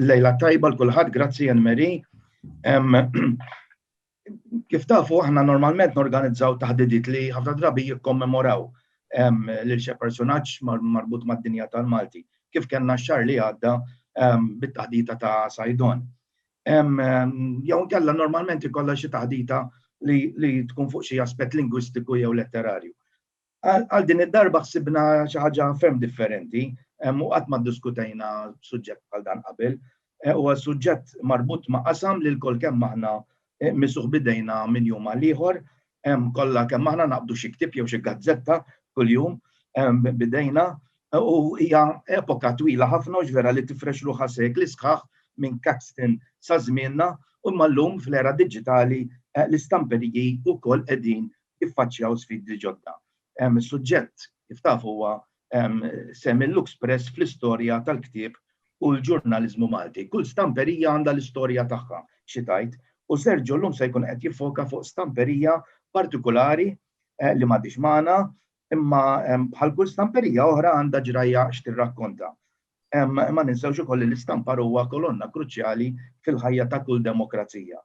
Lejla tajba l-kulħadd, grazzi Anne Marie. Kif tafu aħna normalment norganizzaw taħdidiet li ħafna drabi jikkommemoraw lil xi personaġġ marbut mad-dinja tal-Malti. Kif kellna x-xahar li għadda bit-taħdita ta' Sajdon. Jew inkella normalment ikollha xi taħdita li tkun fuq xi aspett lingwistiku jew letterarju. Għal din id-darba ħsibna xi ħaġa ferm differenti u qatt ma ddiskutejna suġġett bħal dan qabel. Huwa suġġett marbut ma' qasam li lkoll kemm aħna misuh b'idejna minn jum għal ieħor. Kollha kemm aħna naqbdu xi ktieb jew xi gazzetta kuljum b'idejna u hija epoka twila ħafna hux vera li tifrex ruħha sekli sħaħ minn Caxton sa żmienna u imma llum fl-era diġitali l-istamperiji wkoll qegħdin jiffaċċjaw sfidi ġodda. Is-suġġett, kif tafu, huwa sehem il-Lux Press fl-istorja tal-ktieb u l-ġurnaliżmu Malti. Kull stamperija għandha l-istorja tagħha xi tgħid, u Sergio llum se jkun qed jiffoka fuq stamperija partikulari li m'għadhiex magħna, imma bħal kull stamperija oħra għandha ġrajja x'tirrakkonta. Ma ninsewx ukoll li l-istampar huwa kolonna kruċjali fil-ħajja ta' kull demokrazija.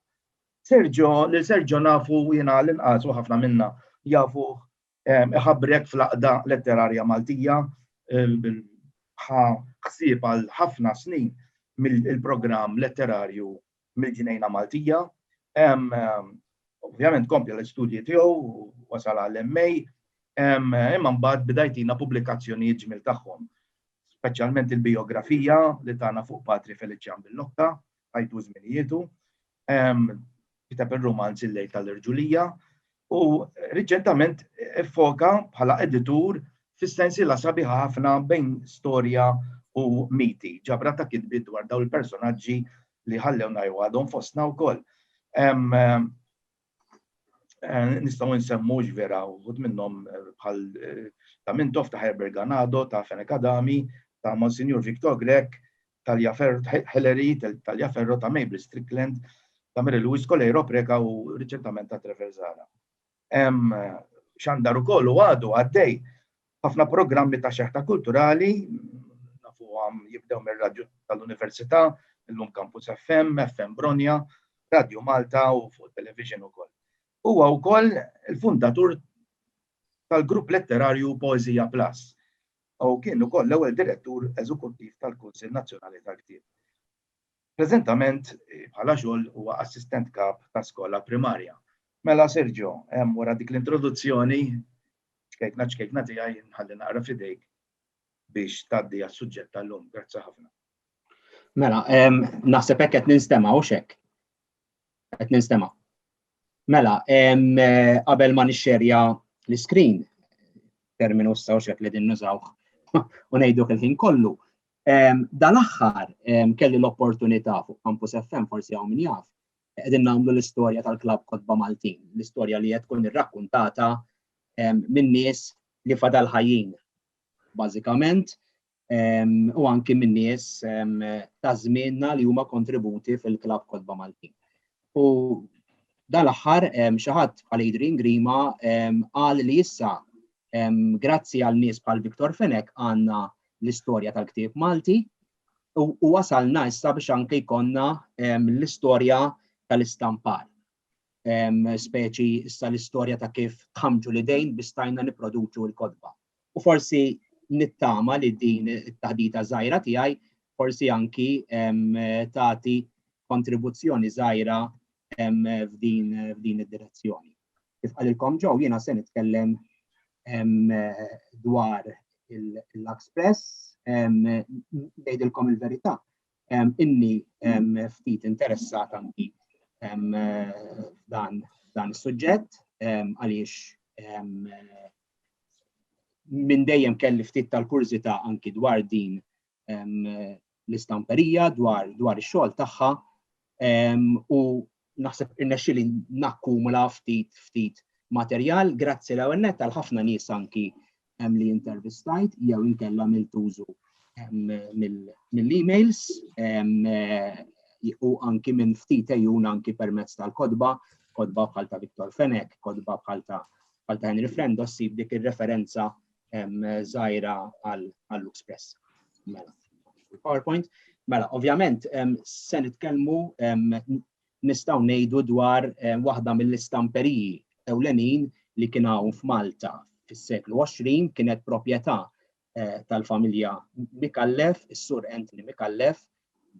Sergio, lil Sergio nafu jiena l-inqas u ħafna minna jafuh iħabrek fl-għaqda letterarja Maltija, ħa ħsieb għal ħafna snin mill-programm letterarju mill-Ġnejna Maltija. Ovvjament kompla l-istudji tiegħu u wasal għall-MA, imma mbagħad beda jtina pubblikazzjonijiet ġmiel tagħhom, speċjalment il-bijografija li tana fuq Patri Feliċjan Billocca, ħajtu u żminietu. Kiteb ir-rumanz Il-lejl tal-irġulija u riċentament iffoka bħala editur fis-sensiela sabiħa ħafna bejn storja u miti, ġabra ta' kitbiet dwar dawn il-personaġġi li ħallewna jew għadhom fostna wkoll. Eh, nistaw nsemmu ġvera uħud minnom eh, bħal eh, ta' Mintof, ta' Herbert Ganado, ta' Fenek Adami, ta' Monsignor Victor Grek, Talja Hillary, Talja Ferro, ta' Mabel Strickland, ta' Mary Louis Coleiro Preka u riċentament ta' Trevor Zara. Xandar u kollu għadu għaddej Ħafna programmi ta' xeħta kulturali nafuhom jibdew mir-radju tal-Università, illum Campus FM, FM Bronja, Radju Malta u fuq it-television ukoll. Huwa wkoll il-fundatur tal-grupp letterarju Poeżija Plus u kien ukoll l-ewwel direttur eżekuttiv tal-Kunsill Nazzjonali tal-Ktieb. Preżentament bħala xogħol huwa assistent kap ta' skola primarja. Mela Sergio, hemm wara dik l-introduzzjoni ċkejkna ċkejkna tiegħi nħalli naqra f'idejk biex tgħaddi għas-suġġett tal-lum. Grazzi ħafna. Mela, naħseb hekk qed ninstema' hux hekk? Qed ninstema'. Mela, qabel ma nixxerja l-iskrin, terminu issa u xek li din nużawh u ngħiduh il-ħin kollu. Dal-aħħar kelli l-opportunità fuq Campus FM forsi hawn min jaf, qegħdin nagħmlu l-istorja tal-Klabb Kotba Maltin, l-istorja li qed tkun irrakkuntata minn nies li fadal ħajjin. Bażikament, u anki min-nies ta' żmienna li huma kontributi fil-Klabb Kotba Maltin. U dan l-aħħar xi ħadd bħal Adrian Grima qal li issa grazzi għal nies bħal Victor Fenech għandna l-istorja tal-ktieb Malti u wasalna issa biex anke jkollna l-istorja tal-istampar. speċi issa l-istorja ta' kif tħammġu l-idejn biex stajna nipproduċu l-kotba. U forsi nittama li din it-taħdita żgħira tiegħi forsi anki tagħti kontribuzzjoni żgħira f'din id-direzzjoni. Kif qalilkom ġew jiena se nitkellem dwar l-Express, ngħidilkom il-verità. inni ftit interessat anki dan dan is-suġġett għaliex minn dejjem kelli ftit tal-kurżità anki dwar din l-istamperija dwar dwar ix-xogħol tagħha u naħseb irnexxieli nakkumula ftit ftit materjal grazzi l-ewwel nett għal ħafna nies anki li intervistajt jew inkella għamilt użu mill-emails u anki minn ftit ejjun anki permezz tal-kodba, kodba bħal ta' Viktor Fenek, kodba bħal ta' bħal ta' Henry Frendo ssib dik ir-referenza żgħira għall-Lux Press. Mela, PowerPoint. Mela, ovvjament, se nitkellmu nistgħu ngħidu dwar waħda mill-istamperiji ewlenin li kien hawn f'Malta fis-seklu 20 kienet proprjetà eh, tal-familja Mikallef, is-sur Anthony Mikallef,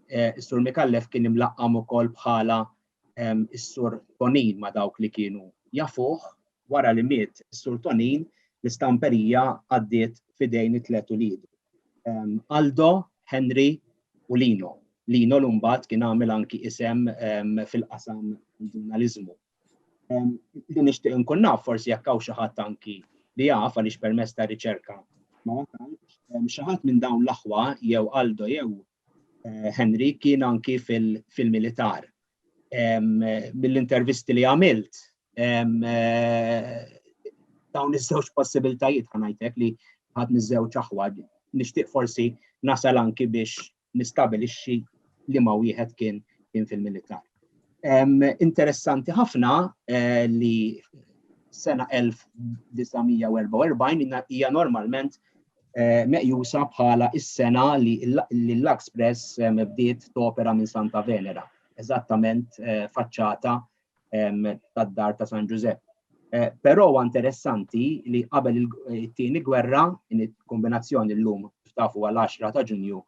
is-Sur Micallef kien imlaqqam ukoll bħala is-Sur Tonin ma' dawk li kienu jafuh wara li miet is-Sur Tonin l-istamperija għaddiet f'idejn it-tliet uliedu. Aldo, Henry u Lino. Lino l-imbagħad kien għamel anki isem fil-qasam tal-ġurnaliżmu. Li nixtieq nkun naf forsi jekk hawn xi ħadd anki li jaf għaliex permess ta' riċerka ma wasalx, xi ħadd minn dawn l-aħwa jew Aldo jew eh, Henry kien anki fil-militar. Mill-intervisti li għamilt, eh, dawn iż-żewġ possibiltajiet ħanajtek li ħadd miż-żewġ aħwa nixtieq forsi nasal anki biex nistabilixxi liema wieħed kien kien fil-militar. Interessanti ħafna eh, li sena 1944 hija normalment eh, meqjusa bħala is-sena li l-Express eh, bdiet topera minn Santa Venera, eżattament faċċata tad-dar ta' San Ġużepp. Eh, però huwa interessanti li qabel it-tieni gwerra, in kombinazzjoni llum tafu għal 10 ta' Ġunju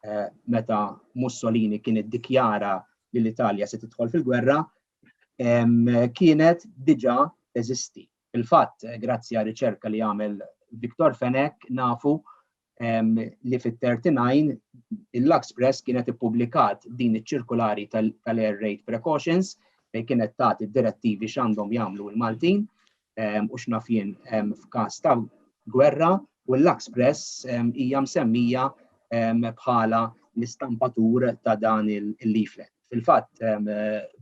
eh, meta Mussolini kien iddikjara li l-Italja se tidħol fil-gwerra, kienet diġà teżisti. Il-fatt, eh, grazzi għal riċerka li għamel Viktor Fenek, nafu li fit-39 il-Lux Press kienet ippubblikat din iċ-ċirkulari tal-air raid precautions fejn kienet tagħti direttivi x'għandhom jagħmlu l-Maltin u x'naf jien f'każ ta' gwerra u l-Lux Press hija msemmija bħala l-istampatur ta' dan il-leaflet. Fil-fatt,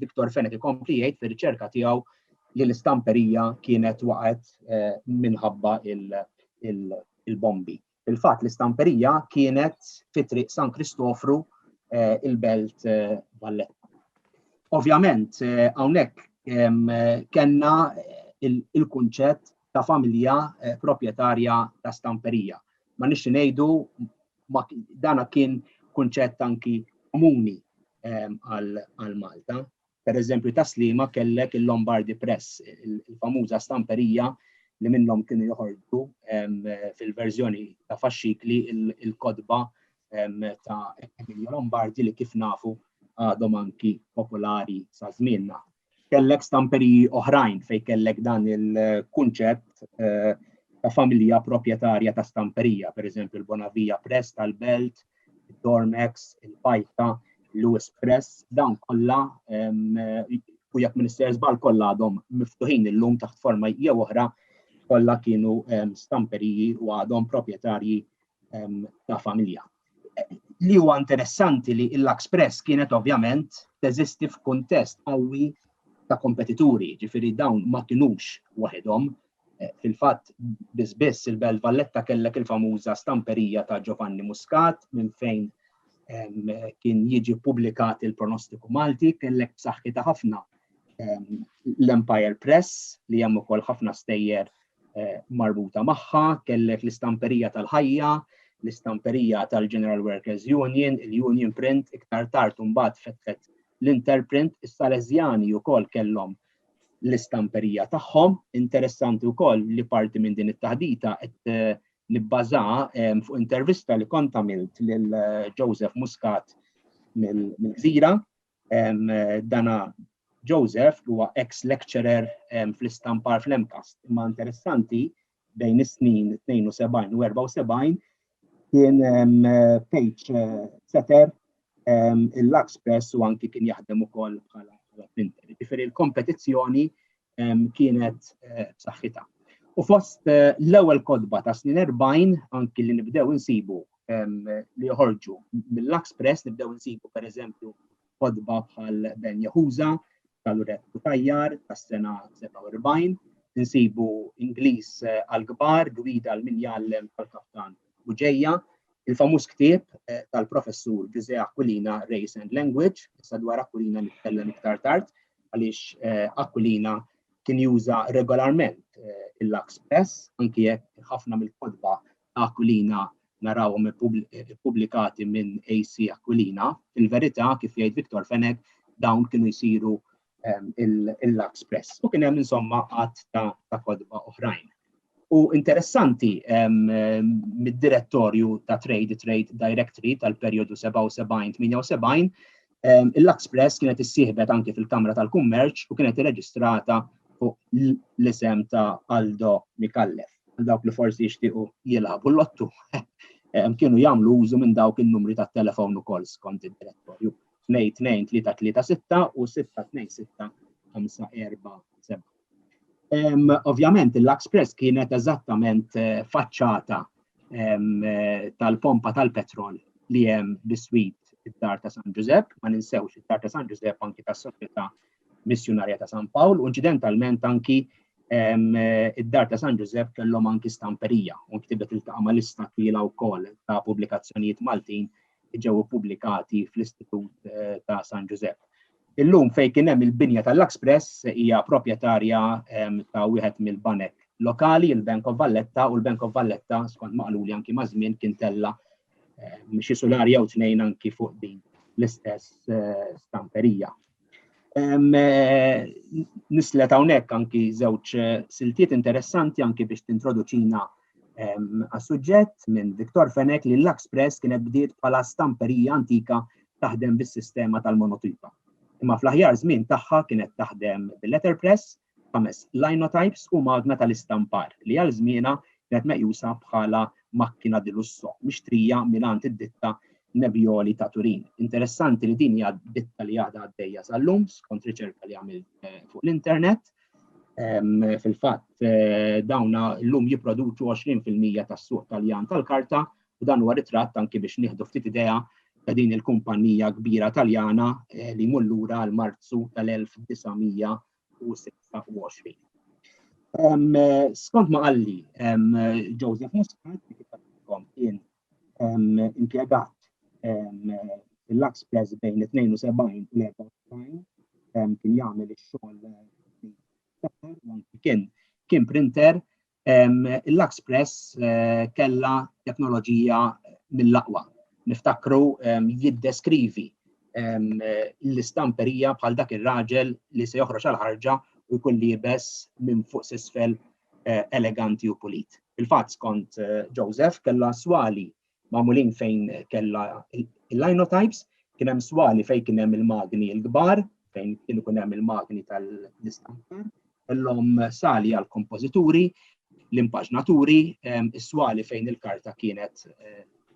Viktor Fenek ikompli jgħid fir-riċerka tiegħu li l-istamperija kienet waqgħet eh, minħabba il- il-bombi. Fil-fatt l-istamperija kienet fi triq San Kristofru eh, il-belt eh, Valletta. Ovvjament eh, hawnhekk kellna il-kunċett ta' familja proprjetarja ta' stamperija. Ma nix ngħidu dana kien kunċett anki komuni għal Malta. Pereżempju ta' Sliema kellek il-Lombardy Press, il-famuża stamperija li minnhom kienu joħorġu fil-verżjoni ta' faxxikli l-kotba ta' Emilio Lombardi li kif nafu għadhom anki popolari sa' żmienna. Kellek stamperiji oħrajn fejn kellek dan il-kunċett eh, ta' familja proprjetarja ta' stamperija, pereżempju l-Bonavija Press tal-Belt, il-Dormex, il-Pajta, l-US Press, dawn kollha u jekk Minister Zbal kollha għadhom miftuħin illum taħt forma jew oħra kollha kienu stamperiji u għadhom proprjetarji ta' familja. Li huwa interessanti li l-Lux Press kienet ovvjament teżisti f'kuntest qawwi ta' kompetituri, ġifiri dawn ma kinux waħedhom, Fil-fatt, biss biss il-Belt Valletta kellek il-famuża stamperija ta' Giovanni Muscat minn fejn kien jiġi ppubblikat il-pronostiku Malti, kellek b'saħħitha ħafna l-Empire Press li hemm ukoll ħafna stejjer eh, marbuta magħha, kellek l-istamperija tal-ħajja, l-istamperija tal-General Workers Union, il-Union Print, iktar tard mbagħad fetħet l-Interprint, is-Salesjani wkoll kellhom l-istamperija tagħhom. Interessanti wkoll li parti minn din it-taħdita qed eh, nibbaża eh, fuq intervista li kont għamilt lil eh, Joseph Muscat mill-Gżira. Dana Joseph huwa ex lecturer fl-istampar fl-MCAST. Imma interessanti bejn is-snin 72 u 74 kien page eh, setter il-Lux Press u anki kien jaħdem ukoll bħala printer. Ġifieri l-kompetizzjoni kienet eh, b'saħħitha. U fost eh, l-ewwel kodba ta' snin 40 anki li nibdew insibu li joħorġu mill-Lux Press nibdew insibu pereżempju f'kotba bħal Ben Yahuza tal-Ured Cutajar tas-sena 47, insibu Ingliż għall-kbar, Gwida għal min jgħallem tal-Kaftan Buġeja, il-famuż ktieb eh, tal-professur Ġuże Aquilina Race and Language, issa dwar Aquilina nitkellem iktar tard, għaliex eh, Aquilina kien juża regolarment eh, il-Lux Press, anki jekk ħafna mill-kodba Aquilina narawhom ippubblikati minn AC Aquilina. Fil-verità, kif jgħid Victor Fenech, dawn kienu jsiru il-Lux Press. U kien hemm insomma għadd ta' kotba oħrajn. U interessanti mid-direttorju ta' Trade, Trade Directory tal-perjodu 77-78, Il-Lux Press kienet issieħbet anke fil-Kamra tal-Kummerċ u kienet irreġistrata fuq l-isem ta' Aldo Micallef. Għal dawk li forsi jixtiequ jilagħbu l-lottu kienu jagħmlu użu minn dawk in-numri tat-telefon ukoll skont id-direttorju. 22336 u 626547. Ovvjament, il-Lux Press kienet eżattament eh, faċċata eh, tal-pompa tal-petrol li hemm biswit id-dar ta' San Ġużepp, ma ninsewx id-dar ta' San Ġużepp anki tas soċjetà Missjunarja ta' San Pawl, u inċidentalment anki eh, id-dar ta' San Ġużepp kellhom anki stamperija u ktibet il-taqa' mal-lista twila wkoll ta' pubblikazzjonijiet Maltin ġew pubblikati fl-Istitut ta' San Ġużepp. Illum fejn kien hemm il-binja tal-Luxpress hija proprjetarja ta' wieħed mill-banek lokali, il-Bank of Valletta, u l-Bank of Valletta, skont maqluli anki ma' żmien, kien tella xi sular jew tnejn anki fuq din l-istess eh, stamperija. Eh, nislet hawnhekk anki żewġ eh, siltiet interessanti anki biex tintroduċina għas-suġġett minn Viktor Fenek li l-Lux Press kienet bdiet bħala stamperija antika taħdem bis-sistema tal-monotipa. Imma fl-aħjar żmien tagħha kienet taħdem bil-letterpress, ħames linotypes u magna tal-istampar li għal żmienha kienet meqjusa bħala makkina di lusso mixtrija mingħand id-ditta Nebbioli ta' Turin. Interessanti li din hija ditta li għadha għaddejja sal-lum skont riċerka li għamil eh, fuq l-internet Fil-fatt, eh, dawna l-lum jiproduċu 20% tas-suq taljan tal-karta, u dan huwa ritratt anki biex nieħdu ftit idea ta' din il-kumpanija kbira taljana eh, li mullura għal Marzu tal-1926. Skont ma qalli Joseph Muscat, kien impjegat fil-Lux Press bejn 72 u 94 kien jagħmel ix-xogħol kien kien printer il-Lux Press eh, kella teknoloġija mill-aqwa. Niftakru jiddeskrivi l-istamperija bħal dak ir-raġel li se joħroġ għal ħarġa u jkun libes minn fuq sisfel eleganti u pulit. Fil-fatt skont Joseph kellha swali magħmulin fejn kellha il-linotypes, kien hemm swali fejn kien hemm il-magni l-kbar, fejn kien ikun hemm il-magni tal-istampar, kellhom sali għal kompożituri, l-impaġnaturi, is-swali fejn il-karta kienet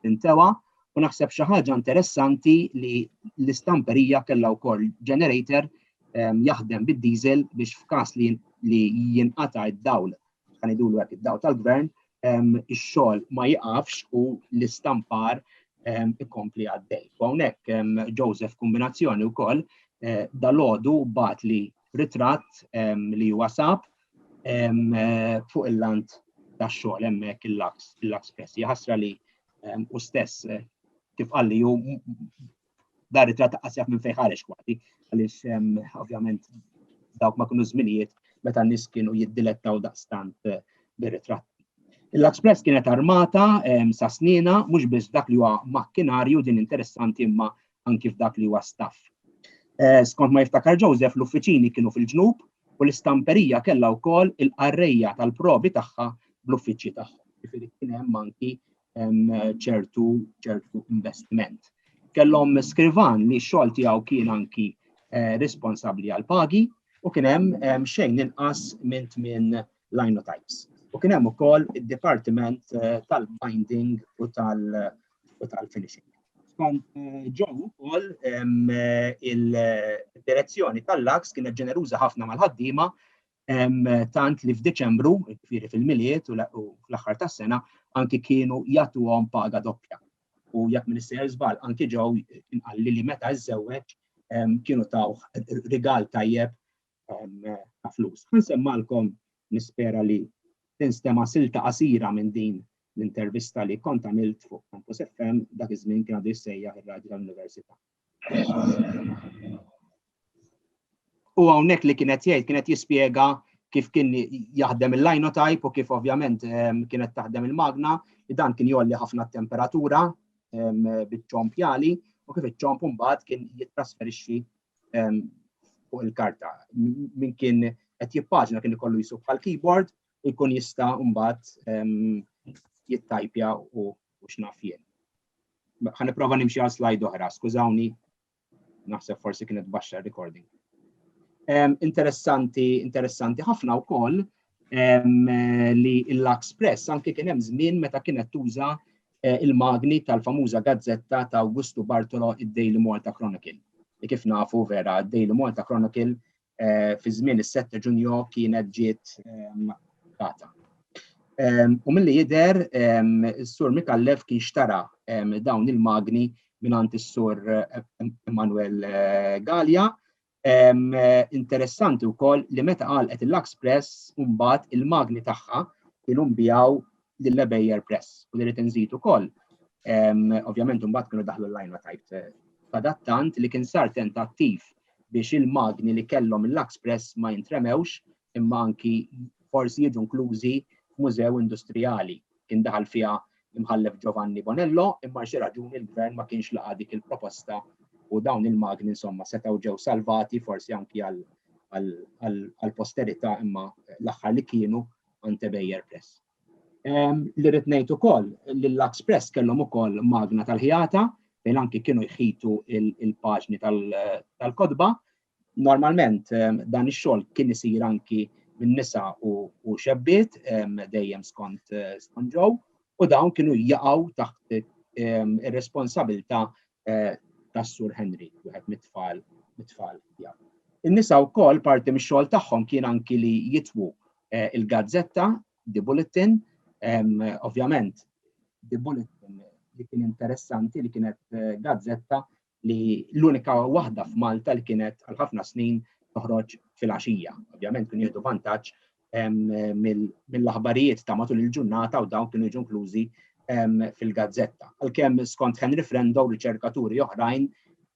tintewa U naħseb xi ħaġa interessanti li l-istamperija kellha wkoll generator ehm, jaħdem bid-diesel biex f'każ li li jinqata' id-dawl, kan idulu hekk id-dawl tal-gvern, ehm, ix-xogħol ma jiqafx u l-istampar ehm, ikompli għaddej. U hawnhekk Joseph kombinazzjoni wkoll eh, dal-għodu bat li ritratt li huwa sab eh, fuq il-lant tax-xogħol hemmhekk il-laks, il-laks press. Jaħasra li u stess kif qalli u dar it-trat ta' qasjaf minn fejħarex kważi, għaliex ovvjament dawk ma kienu żminijiet meta n-nies kienu jiddilettaw daqstant eh, bir-ritratt. Il-Express kienet armata sa snina mhux biss dak li huwa makkinarju din interessanti imma anki f'dak li huwa staff. Eh, skont ma jiftakar Joseph, l-uffiċini kienu fil-ġnub u l-istamperija kellha wkoll il-qarrejja tal-provi tagħha bl-uffiċċji tagħhom. Jifieri kien hemm anki ċertu ċertu investiment. Kellhom skrivan li x-xogħol tiegħu kien anki eh, responsabbli għal pagi u kien hemm xejn inqas minn tmien linotypes. U kien hemm ukoll id-dipartiment eh, tal-binding u tal-finishing. Skont eh, ġew ukoll eh, il-direzzjoni tal-laks kienet ġeneruża ħafna mal-ħaddiema tant li f'Diċembru, ġifieri fil-miliet u fl-aħħar tas-sena, anki kienu jagħtuhom paga doppja. U jekk minn sejjer żball anki ġew inqalli li meta żżewweġ kienu tawh rigal tajjeb ta' flus. Ħansemmgħalkom nispera li tinstema' silta qasira minn din l-intervista li kont għamilt fuq Campus FM, dak iż-żmien kien għadu jissejjaħ ir-Radju tal-Università. U hawnhekk li kien qed jgħid kien qed jispjega kif kien jaħdem il-linotype u kif ovvjament ehm, kienet taħdem il-magna, li dan kien jolli ħafna temperatura ehm, bit-ċomp jali u kif iċ-ċomp mbagħad kien jittrasferixxi fuq il-karta. Min kien qed jippaġna kien ikollu jisub bħal keyboard u jkun jista' mbagħad jittajpja u x'naf jien. Ħa nipprova nimxi għal slide oħra, skużawni, naħseb forsi kienet baxxa recording. Interessanti, interessanti ħafna wkoll li l-Express anke kien hemm żmien meta kienet tuża il-magni tal-famuża gazzetta ta' Awgustu Bartolo id-Daily Malta Chronicle. Li kif nafu vera, id-Daily Malta Chronicle fi żmien is-7 Ġunju kienet ġiet data. U milli jidher is-Sur Mikallef kien xtara dawn il-magni mingħand is-Sur Emanuel Gallia Interessanti wkoll li meta għalqet il-Lux Press mbagħad il-magni tagħha kienu nbijaw lil Bayer Press u li rrid inżid ukoll. Ovvjament mbagħad kienu daħlu l-lajna tajt eh, adattant li kien sar tentattiv biex il-magni li kellhom il-Lux Press ma jintremewx imma anki forsi jiġu inklużi f'mużew industrijali. Kien daħal fiha l-Imħallef Giovanni Bonello imma għal xi raġuni l-Gvern ma kienx laqa' dik il-proposta u dawn il-magni insomma setgħu ġew salvati forsi anki għall-posterità imma l-aħħar li kienu ante Bayer Press. Ehm, li rrid ngħid ukoll li l-Lux Press kellhom ukoll magna tal-ħjata fejn anki kienu jħitu il-paġni tal-kodba Normalment dan ix-xogħol kien isir anki minn nisa u xebbiet dejjem skont Joe u dawn kienu jaqgħu taħt ir-responsabilità tas-Sur Henry, wieħed mit-tfal mit-tfal tiegħu. In-nisa wkoll parti mix-xogħol tagħhom kien anki li jitwu il-gazzetta The Bulletin, ovvjament The Bulletin li kien interessanti li kienet gazzetta li l-unika waħda f'Malta li kienet għal ħafna snin toħroġ fil-għaxija. Ovvjament kienu jieħdu vantaġġ mill-aħbarijiet ta' matul il-ġurnata u dawn kienu jiġu inklużi fil-gazzetta. Għalkemm skont Henry Frendo u riċerkaturi oħrajn,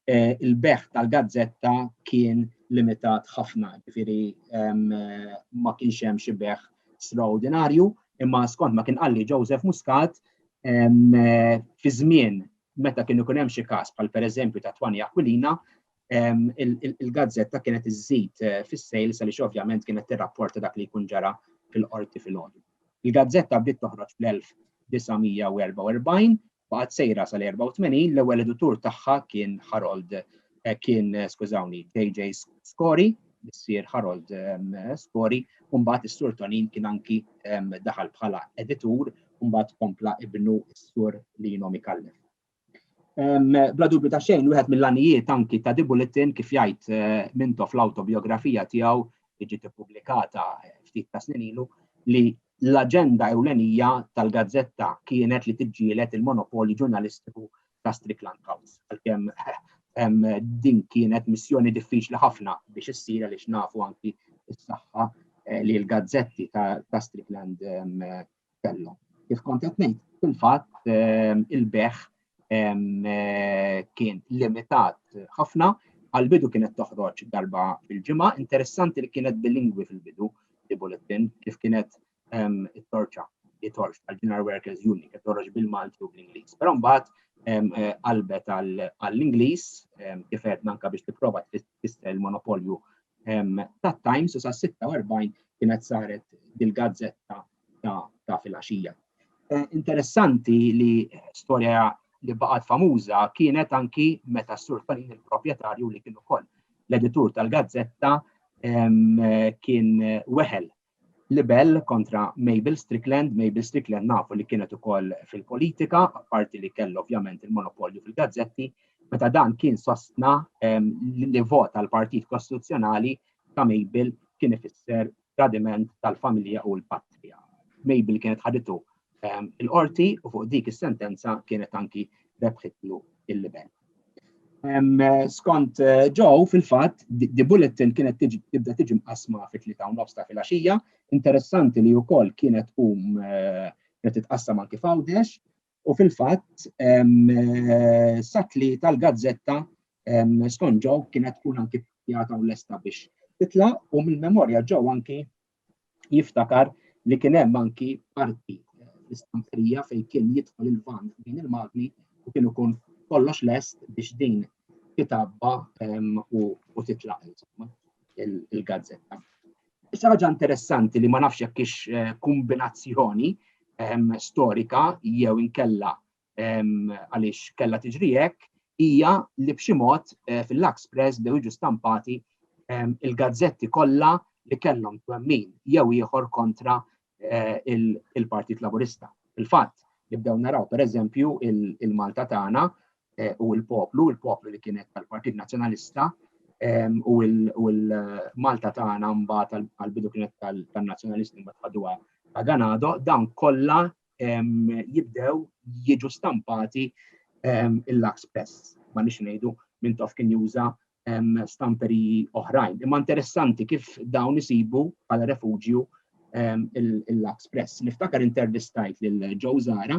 eh, il-beħ tal-gazzetta kien limitat ħafna, ġifiri ma kienx hemm xi beħ straordinarju, imma skont ma kien qalli Joseph Muscat fi żmien Meta kien ikun hemm xi każ bħal pereżempju ta' Twani Aquilina, il-gazzetta kienet iżżid fis-sales għaliex ovvjament kienet tirrapporta dak li jkun ġara fil-Qorti filgħodu. Il-gazzetta bdiet toħroġ fl-1944, baqgħet sejra sal-84, l-ewwel editur tagħha kien Harold kien skużawni JJ Scori, missier Harold Scori, u mbagħad is-Sur Tonin kien anki daħal bħala editur u mbagħad kompla ibnu s-sur Lino Mikallef. Bla dubju ta' xejn, wieħed mill-għanijiet anki ta' Di Bulletin kif jgħid eh, minto fl-autobiografija tiegħu li ġiet ippubblikata eh, ftit ta' snin ilu li l-aġenda ewlenija tal-gazzetta kienet li tiġġielet il-monopoli ġurnalistiku ta' Strickland House. Għalkemm eh, din kienet missjoni diffiċli ħafna biex issir għaliex nafu anki s-saħħa li l-gazzetti ta' Strickland Castello. Kif kont qed ngħid, fil-fatt ehm, il-beħ ehm, eh, kien limitat ħafna, għal-bidu kienet toħroġ darba fil-ġimgħa, interessanti li kienet bilingwi fil-bidu li bulletin kif kienet ehm, it-torċa li torċ tal-General Workers Union kif toħroġ bil-Malti u bl-Ingliż. Però mbagħad eh, qalbet għall-Ingliż kif qed nanka biex tipprova tista' il-monopolju tat-Times u sas-46 kienet saret dil-gazzetta ta' filgħaxija. Interessanti li storja li baqgħet famuża kienet anki meta s-Sur Tolin il-proprjetarju li kien ukoll l-editur tal-gazzetta kien weħel libell kontra Mabel Strickland. Mabel Strickland nafu li kienet ukoll fil-politika, apparti li kellu ovvjament il-monopolju fil-gazzetti, meta dan kien sostna li vot għal partit kostituzzjonali ta' Mabel kien ifisser tradiment tal-familja u l-patrija. Mabel kienet ħaditu il-qorti u fuq dik is-sentenza kienet anki rebħitlu il-libel. Skont eh, ġew fil-fatt, di bulletin kienet tibda tiġi mqasma fi tlieta u nofs ta' filgħaxija. Interessanti li wkoll kienet tkun eh, kienet titqassam anki f'Għawdex u fil-fatt eh, satli tal-gazzetta skont ġew kienet tkun anki pjata u lesta biex titla' u mill-memorja ġew anki jiftakar li kien hemm anki parti l-istamperija fejn kien jidħol il-van din il-magni u kien ikun kollox lest biex din titabba u titlaq il-gazzetta. Issa ħaġa interessanti li ma nafx jekk ix eh, kombinazzjoni storika jew inkella għaliex kellha tiġri hekk, hija li b'xi mod eh, fil-Lux Press bdew jiġu stampati il-gazzetti kollha li kellhom twemmin jew ieħor kontra eh, il-Partit Laburista. Il-fatt li bdew naraw pereżempju il-Malta tagħna eh, u l-poplu, il-poplu li kienet tal-Partit Nazzjonalista, u l-Malta tagħna mbagħad għal-bidu kienet tal-Nazzjonalisti mbagħad ħaduha ta' Ganado, dawn kollha jibdew jiġu stampati il-lax press. Ma nix ngħidu minn tof kien juża stamperi oħrajn. Imma interessanti kif dawn isibu għal refugju il-lax press. Niftakar intervistajt lil Joe Zara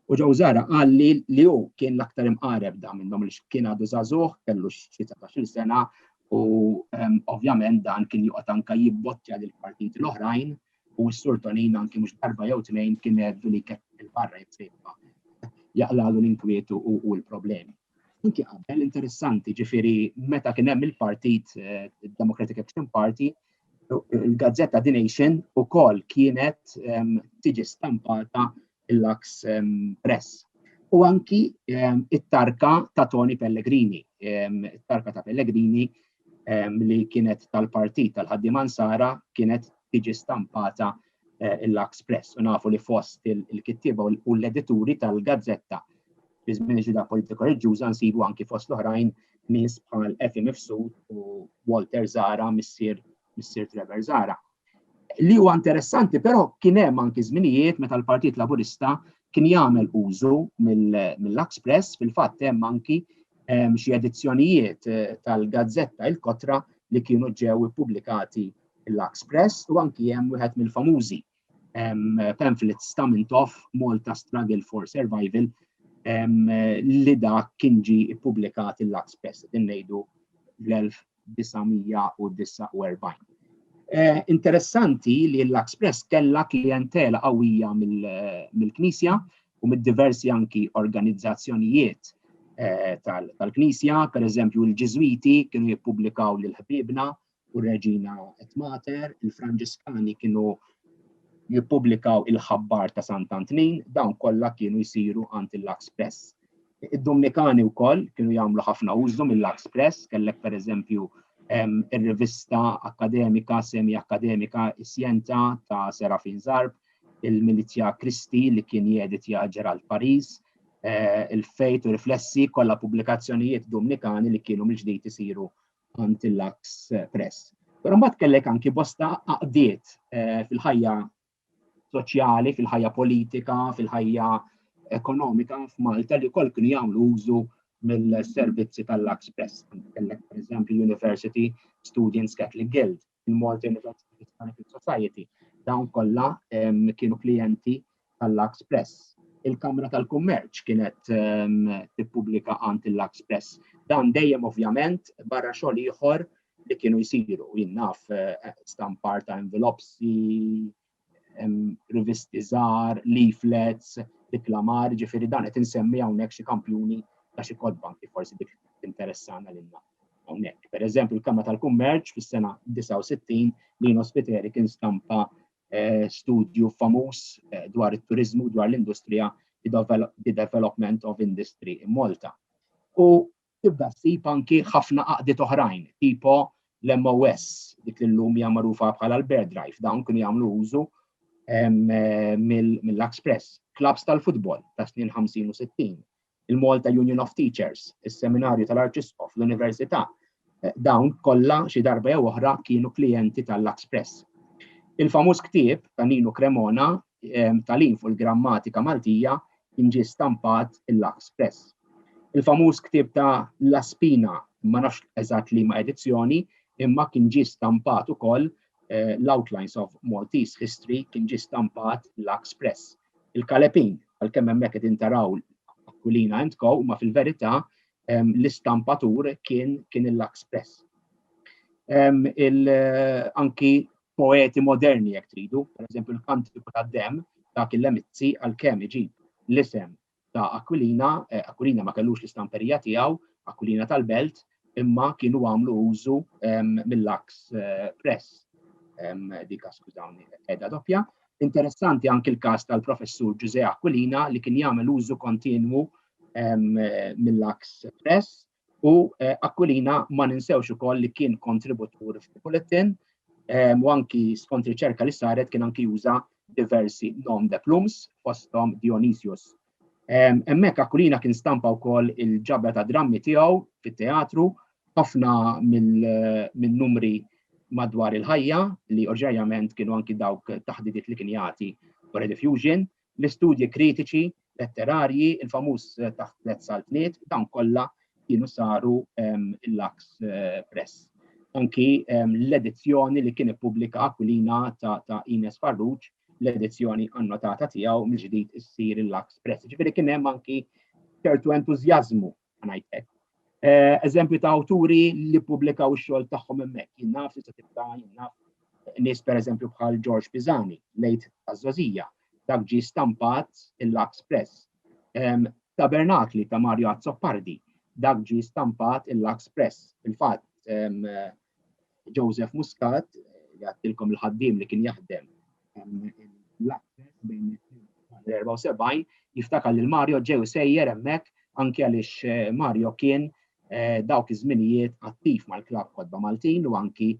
u Joe Zara qal li li hu kien l-aktar imqareb da minnhom li kien għadu żagħżugħ kellu xi 19 sena u ovvjament dan kien joqgħod anka jibbottja lill-partiti l-oħrajn u s-Sur Tonina anki mhux darba jew tnejn kien għedlu li jkeċċi fil-barra jekk se jibqa' jaqlagħlu l-inkwiet u l-problemi. Anki qabel, interessanti, ġifieri meta kien hemm il-partit Democratic Action Party, il-gazzetta The Nation ukoll kienet tiġi stampata il-Lux Press. U anki it-tarka ta' Tony Pellegrini, it-tarka ta' Pellegrini li kienet tal-partit tal-ħaddim Ansara kienet tiġi stampata eh, il-Lux Press u nafu li fost il-kittiba u l-edituri tal-gazzetta fi żmien ġuda politika reġġuża nsibu anki fost l-oħrajn nies bħal Efi Mifsud u Walter Zara missier Missier Trevor Zara. Li huwa interessanti però kien hemm anki żminijiet meta l-Partit Laburista kien jagħmel użu mill-Lux Press fil-fatt hemm anki ehm, xi edizzjonijiet eh, tal-gazzetta il-kotra li kienu ġew ippubblikati l-Lux Press u anki hemm wieħed mill-famużi ehm, pamphlets ta' Mintoff Malta Struggle for Survival ehm, li dak kien ġi ippubblikat il-Lux Press din ngħidu l-1900 1949. Interessanti li l-Express kellha klijentela qawwija mill-Knisja u mid-diversi anki organizzazzjonijiet eh, tal-Knisja, per eżempju l-Ġiżwiti kienu jippubblikaw lil ħbiebna u Reġina et Mater, il-Franġiskani kienu jippubblikaw il-ħabbar ta' Sant Antnin, dawn kollha kienu jsiru għand il-Express. Id-Dumnikani wkoll kienu jagħmlu ħafna użu mill-Lux Press, kellek pereżempju ir-rivista akkademika, semi akkademika Isjenta ta' Serafin Zarb, il-Milizja Kristi li kien jeditja Ġerald Paris, eh, il-Fejt u Riflessi kollha pubblikazzjonijiet Dumnikani li kienu mill-ġdid isiru għand il-Lux Press. Però mbagħad kellek anki bosta għaqdiet eh, fil-ħajja soċjali, fil-ħajja politika, fil-ħajja ekonomika f'Malta li wkoll kienu jagħmlu użu mill-servizzi tal-Lux Press. Kellek pereżempju University Students Catholic Guild, il-Malta University Hispanic Society, dawn kollha kienu klijenti tal-Lux Press. Il-Kamra tal-Kummerċ kienet tippubblika għand il-Lux Press. Dan dejjem ovvjament barra xogħol ieħor li kienu jisiru, jinnaf eh, stampar ta' envelopsi, rivisti żgħar, leaflets, diklamar, ġifiri dan qed insemmi hawnhekk xi kampjuni ta' xi kodba kif forsi dik interessana lilna hawnhekk. Per eżempju, il-Kamra tal-Kummerċ fis-sena 69 li ospiteri kien stampa eh, studju famuż eh, dwar it-turizmu dwar l-industrija The Development of Industry in Malta. U Tibda ssib anki ħafna għaqdiet oħrajn, tipo l-MOS, dik li llum hija magħrufa bħala l-Bear Drive, dawn kienu jagħmlu użu mill-Luxpress, klabbs tal-futbol tas-snin 50 u 60, il-Malta Union of Teachers, is-Seminarju tal-Arċisqof, l-Università, dawn kollha xi darba jew oħra kienu klijenti tal-Luxpress. Il-famuż ktieb ta' Ninu Cremona tal-in fuq il-grammatika Maltija kien ġie stampat il-Lux Press. Il-famuż ktieb ta' La Spina, ma nafx eżatt li ma' edizzjoni, imma kien ġie stampat ukoll eh, l-Outlines of Maltese History kien ġie stampat l-Ax Press. Il-Kalepin, għal-kemm hemmhekk qed intaraw Aquilina and Co, ma fil-verità l-istampatur kien kien il-Lux Press. Anki poeti moderni jekk tridu, per eżempju l-kantiku ta' dem dak il-lemizzi għal kemm iġib l-isem ta' Aquilina, eh, Aquilina ma kellux l-istamperija tiegħu, Aquilina tal-Belt, imma kienu għamlu użu ehm, mill-aks eh, press ehm, dika skużawni edha doppja. Interessanti anki l-każ tal-professur Ġuże Aquilina li kien jagħmel użu kontinwu ehm, mill-aks press U Aquilina ma ninsewx ukoll li kien kontributur f'Bulettin u anki skont riċerka li saret kien anki juża diversi nom de plums fosthom Dionysius. Hemmhekk Aquilina kien stampa wkoll il-ġabra ta' drammi tiegħu fit-teatru ħafna mill-numri madwar il-ħajja li oġġerjament kienu anki dawk taħdidiet li kien jagħti wara diffusion, L-istudji kritiċi, letterarji, il-famuż taħt tliet saltniet, dawn kollha kienu saru l-Lux Press. Anki l-edizzjoni li kien ippubblika Aquilina ta' Ines Farruġ, l-edizzjoni annotata tiegħu mill-ġdid issir il-Lux Press. Ġifieri kien hemm anki ċertu entużjażmu ngħid hekk. Eh, eżempju ta' awturi li pubblikaw ix-xogħol tagħhom hemmhekk, jien naf li se tibda jien naf nies pereżempju bħal George Pisani, lejt taż-żożija, dak ġi stampat il-Lux Press. Tabernakli ta' Mario Azzopardi, dak ġi stampat il-Lux Press. Fil-fatt, Joseph Muscat, li għattilkom il-ħaddim li kien jaħdem l-74, jiftakar li l-Mario ġew sejjer hemmhekk anke għaliex eh, Mario kien eh, dawk iż-żminijiet attiv mal-klab kodba Maltin u anki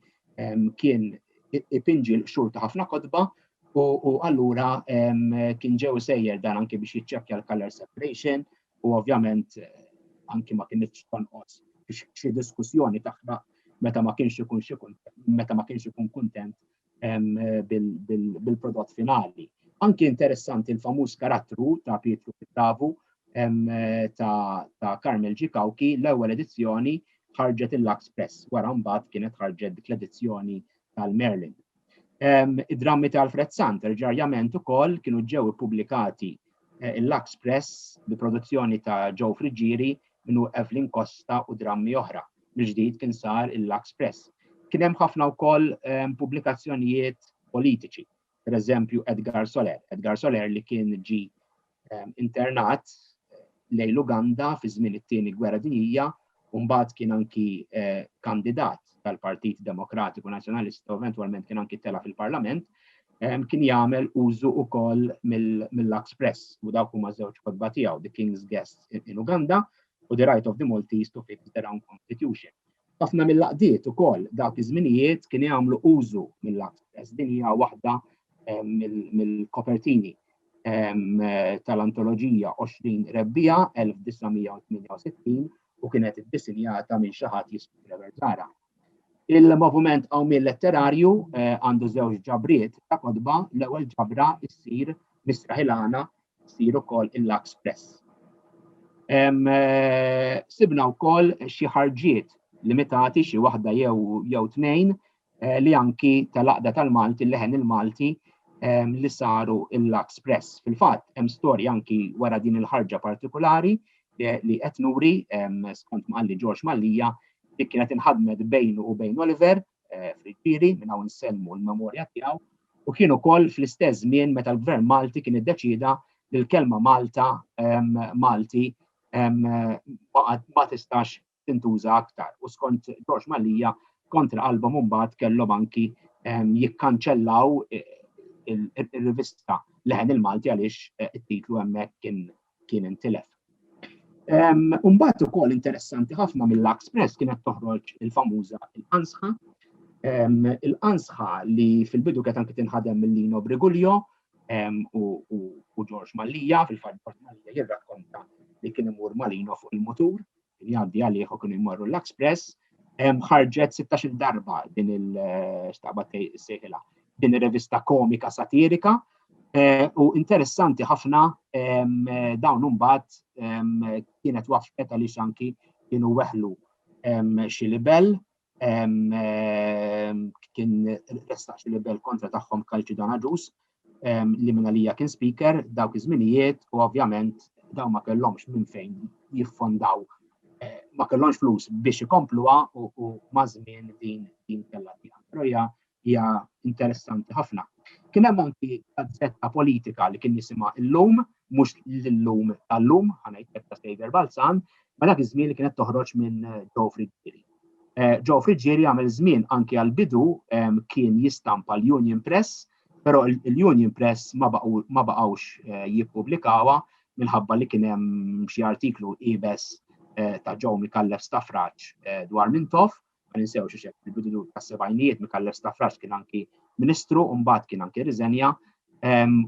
kien ipinġi l-qxur ta' ħafna kodba u allura kien ġew sejjer dan anki biex jiċċekkja l-color separation u ovvjament anki ma kienx tonqos xi diskussjoni taħraq meta ma kienx ikun xi meta ma kienx ikun kuntent bil-prodott finali. Anki interessanti l-famuż karattru ta' Pietru Pittavu ta' Carmel Ġikawki l-ewwel edizzjoni ħarġet il-Lux Press, wara mbagħad kienet ħarġet dik l-edizzjoni tal-Merlin. Id-drammi ta' Alfred Sant, terġarjament ukoll kienu ġew ippubblikati eh, il-Lux Press bi produzzjoni ta' Joe Friggieri minnu Evelyn Costa u drammi oħra. Mill-ġdid kien sar il-Lux Press. Kien hemm ħafna wkoll pubblikazzjonijiet politiċi, per eżempju Edgar Soler. Edgar Soler li kien ġi ehm, internat eh, lejn Uganda fi żmien it-tieni gwerra dinjija u mbagħad kien anki eh, kandidat tal-Partit Demokratiku Nazzjonalista u eventwalment kien anki tela fil-Parlament ehm, kien jagħmel użu ukoll mill-Lux Press u dawk huma żewġ kodba tiegħu The King's Guest in Uganda u The Right of the Maltese to Fix Their Own Constitution. Ħafna mill-għaqdiet ukoll dawk iż-żminijiet kienu jagħmlu użu mill-Antres. Din hija waħda mill-kopertini tal-antoloġija 20 Rebbiegħa 1968 u kienet iddisinjata minn xi ħadd jismu Trevor Zara. Il-moviment qawmien letterarju eh, għandu żewġ ġabriet ta' kodba l-ewwel ġabra issir misraħilana ssir ukoll il-Lux Press. Sibna wkoll xi ħarġiet limitati xi waħda jew jew tnejn eh, li anki tal-aqda tal-Malti l-leħen il-Malti li saru il-Lux Press. Fil-fatt hemm storja anki wara din il-ħarġa partikolari eh, li qed nuri skont mqalli George Mallija li kienet inħadmet bejnu u bejn Oliver fil-Ġiri minn hawn nsellmu l-memorja tiegħu u kien ukoll fl-istess żmien meta l-Gvern Malti kien iddeċieda li l-kelma Malta Malti ma tistax tintuża aktar. U skont George Malija kontra qalbhom imbagħad kellhom anki jikkanċellaw ir-rivista Leħen il-Malti għaliex it-titlu hemmhekk kien kien intilef. Umbat u kol interessanti ħafna mill-Laks Press kienet toħroġ il-famuża il-qansħa. Il-qansħa li fil-bidu kienet anki tinħadem mill-Lino Brigulio u George Mallija, fil-fatt George Mallija jirrakkonta li kien imur Malino fuq il-mutur li għaddi għalih u kienu jmorru l-Express, ħarġet 16 darba din il-xtaqba sejħila, din il-revista komika satirika, eh, u interessanti ħafna dawn umbat kienet wafqet għaliex anki kienu weħlu xi libel kien restaq xi libel kontra tagħhom Kalċi Danaġus li minn għalija kien speaker dawk iż-żminijiet u ovvjament daw ma kellhomx minn fejn jiffondaw eh, ma kellhomx flus biex ikompluha u mażmien din din kellha tiegħek. Però hija hija interessanti ħafna. Kien hemm anki gazzetta politika li kien jisimha illum, mhux l-illum tal-lum, ħanajtek ta' Saver Balzan, ma dak iż-żmien li kienet toħroġ minn Joe Friggieri. Eh, Joe Friggieri għamel żmien anki għal-bidu kien jistampa l-Union Press, però l-Union Press ma baqgħux eh, jippubblikawa minħabba li kien hemm xi artiklu ibes eh, ta' Joe Mikallef Stafraċ dwar Mintoff ma ninsewx xi xek fil-bidu tas-sebgħinijiet Mikallef Stafrax kien anki Ministru u mbagħad kien anki riżenja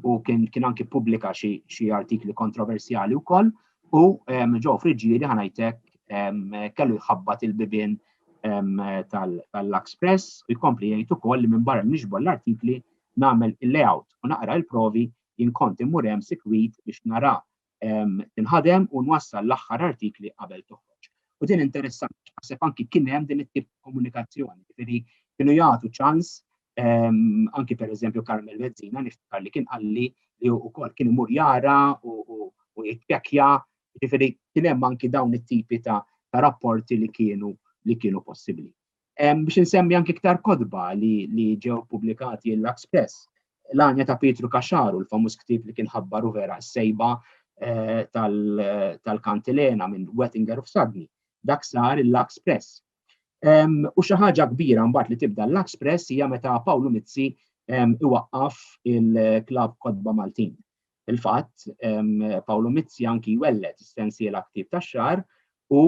u kien anki pubblika xi artikli kontroversjali wkoll u ġew friġġieri ħanajtek kellu jħabbat il-bibien tal-Lux Press u jkompli jgħid ukoll li minn barra nixbol l-artikli nagħmel il-layout u naqra il-provi jinkonti murem sikwit biex nara tinħadem u nwassal l-aħħar artikli qabel toħroġ. U din interessanti, naħseb anki kien hemm din it-tip ta' komunikazzjoni, jiġifieri kienu jagħtu ċans anki per eżempju Carmel Mezzina niftakar li kien qalli li wkoll kien imur jara u jittjekja, jiġifieri kien hemm anki dawn it-tipi ta' rapporti li kienu li kienu possibbli. Biex insemmi anki iktar kodba li ġew publikati l-Lux Press, l-għanja ta' Pietru Kaxaru, l-famuż ktib li kien ħabbaru vera s-sejba eh, tal-kantilena minn Wettinger of Sadni. Dak sar il-Lux Press. U xi ħaġa kbira mbagħad li tibda l-Lux Press hija meta Pawlu Mizzi iwaqqaf il-klab Kodba Maltin. Fil-fatt, Pawlu Mizzi anki jwelled is-sensiela Ktieb tax-Xahar u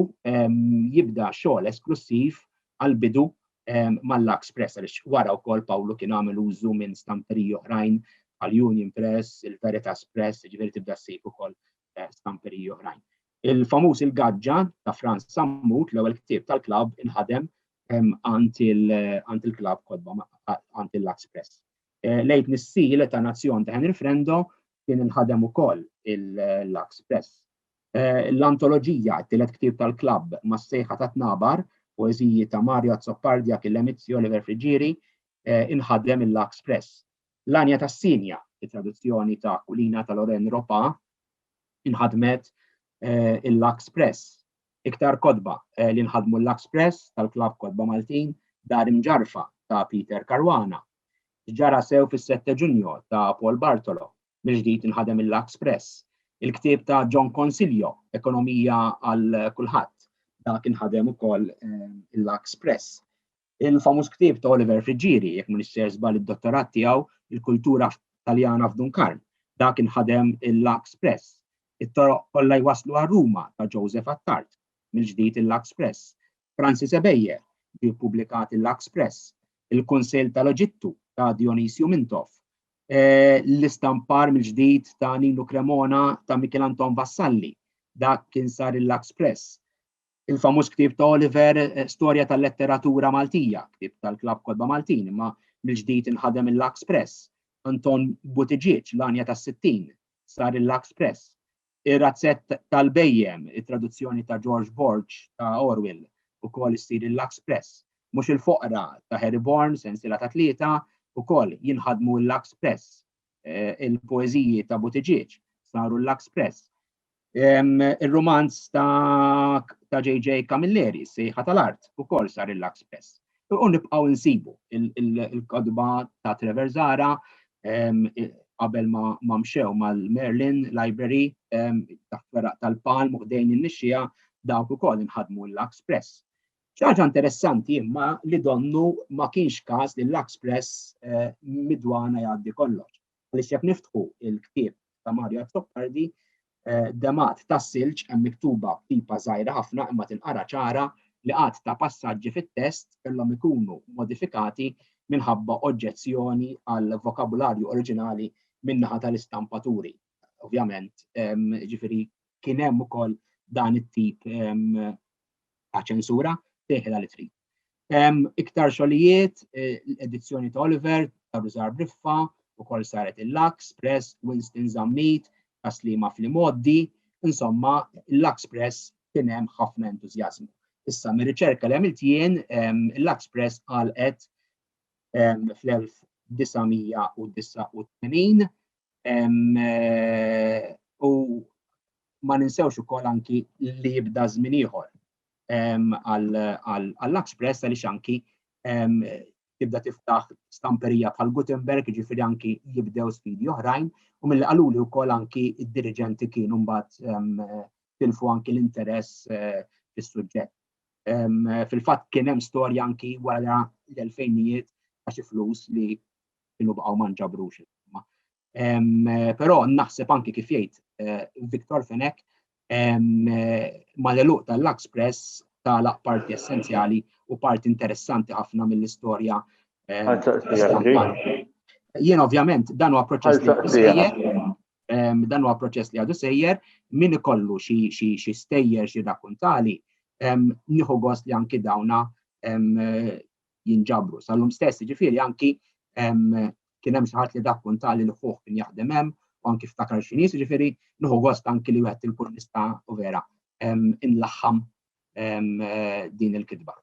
jibda xogħol esklussiv għall-bidu mal-Lux Press, għaliex wara wkoll Pawlu kien għamel użu minn stamperiji oħrajn bħal Union Press, il-Veritas Press, jiġifieri tibda ssib ukoll stamperiji oħrajn. Il-famuż Il-Gaġġa ta' Frans Sammut, l-ewwel ktieb tal-klabb inħadem għand il-klabb kotba għand il-Lux Press. Lejt l-istil ta' Nazzjon ta' Henry Frendo kien inħadem ukoll il-Lux Press. L-antoloġija, it-tielet ktieb tal-klabb, mas-sejħa tat-tnabar, poeżiji ta' Mario Azzopardi, Achille Mizzi, Oliver Friggieri, inħadem il-Lux Press. L-Għanja tas-Sinja, it-traduzzjoni ta' Aquilina ta' Lorraine Ropa, inħadmet il-Lux Press. Iktar kotba li nħadmu l-Lux Press tal-klabb Kotba Maltin, Dar Imġarrfa ta' Peter Caruana, Ġara sew fis-Sette Ġunju ta' Paul Bartolo, mill-ġdid inħadem il-Lux Press. Il-ktieb ta' John Consiglio, Ekonomija għal Kulħadd, dak inħadem ukoll il-Lux Press. Il-famuż ktieb ta' Oliver Friggieri, jekk mhux ser żball id-dottorat tiegħu, il-kultura Taljana f'Dunkarn, dak inħadem il-Lux Press. It-toroq kollha jwasslu għal Ruma ta' Joseph Attard, mill-ġdid il-Lux Press. Francis Ebejer, ġie ppubblikat il-Lux Press, il-Kunsill tal-Eġittu ta' Dionysio Mintoff, eh, l-istampar mill-ġdid ta' Ninu Cremona ta' Michel Anton Vassalli, dak kien sar il-Lux Press, il-famuż ktieb ta' Oliver eh, Storja tal-Letteratura Maltija, ktieb tal-Klabb Kodba Maltin, imma mill-ġdid inħadem il-Lux Press, Anton Buttigieg, l-għanja tas-60, sar il-Lux Press, Ir-Razzett tal-Bhejjem, it-traduzzjoni ta' George Borg ta' Orwell, ukoll issir il-Lux Press. Mhux il-Foqra ta' Harry Bourne, sensiela ta' tlieta, ukoll jinħadmu l-Lux Press. Il-poeżiji ta' Buttigieg saru l-Lux Press. Ir-rumanz ta' JJ Camilleri, Is-Sejħa tal-Art, ukoll sar il-Lux Press. U nibqgħu insibu il-kodba ta' Trevor Zara qabel ma mxew mal-Merlin Library ta' feraq tal-palm u ħdejn in-nixxija dawk ukoll inħadmu l-Lux Press. Ċaġa interessanti imma li donnu ma kienx każ li l-Lux Press eh, midwana jgħaddi kollox. Għaliex jekk niftħu il-ktieb ta' Mario Azzopardi, eh, demat ta' silġ hemm miktuba tipa żgħira ħafna imma tinqara ċara li qatt ta' passaġġi fit-test kellhom ikunu modifikati minħabba oġġezzjoni għal vokabularju oriġinali min-naħa tal-istampaturi. Ovvjament, ġifiri, kien hemm ukoll dan it-tip ta' ċensura teħla li trid. Iktar xogħlijiet, l-edizzjoni ta' Oliver, ta' Rużar Briffa, ukoll saret il-Lux Press, Winston Zammit, ta' Sliema fl-imgħoddi, insomma, il-Lux Press kien hemm ħafna entużjażmu. Issa, mir-riċerka li għamilt jien, il-Lux Press għalqet fl-1989 u ma ninsewx ukoll anki li jibda żmien ieħor, għall-Lux Press għaliex anki tibda tiftaħ stamperija bħal Gutenberg, ġifiri anki jibdew sfidi oħrajn, u mill qaluli u kol anki id-dirigenti kienu mbat tilfu anki l-interess eh, fil-sujġet. Fil-fat kienem storja anki wara l-2000 għaxi flus li kienu baqaw manġabrux. Però naħseb anki kif jgħid eh, Viktor Fenek eh, mal-eluq tal-Lux Press tagħlaq parti essenzjali u parti interessanti ħafna mill-istorja. Eh, Jien ovvjament dan huwa proċess li għadu sejjer, dan huwa proċess li għadu sejjer, min ikollu xi stejjer xi rakuntali, nieħu gost li anki dawna jinġabru sal-lum stess, jiġifieri anki kien hemm xi ħadd li dak kunta li l-ħuħ kien jaħdem hemm u anki ftakar xi nies, jiġifieri nieħu gost anki li wieħed inkun nista' u vera inlaħħam din il-kitba.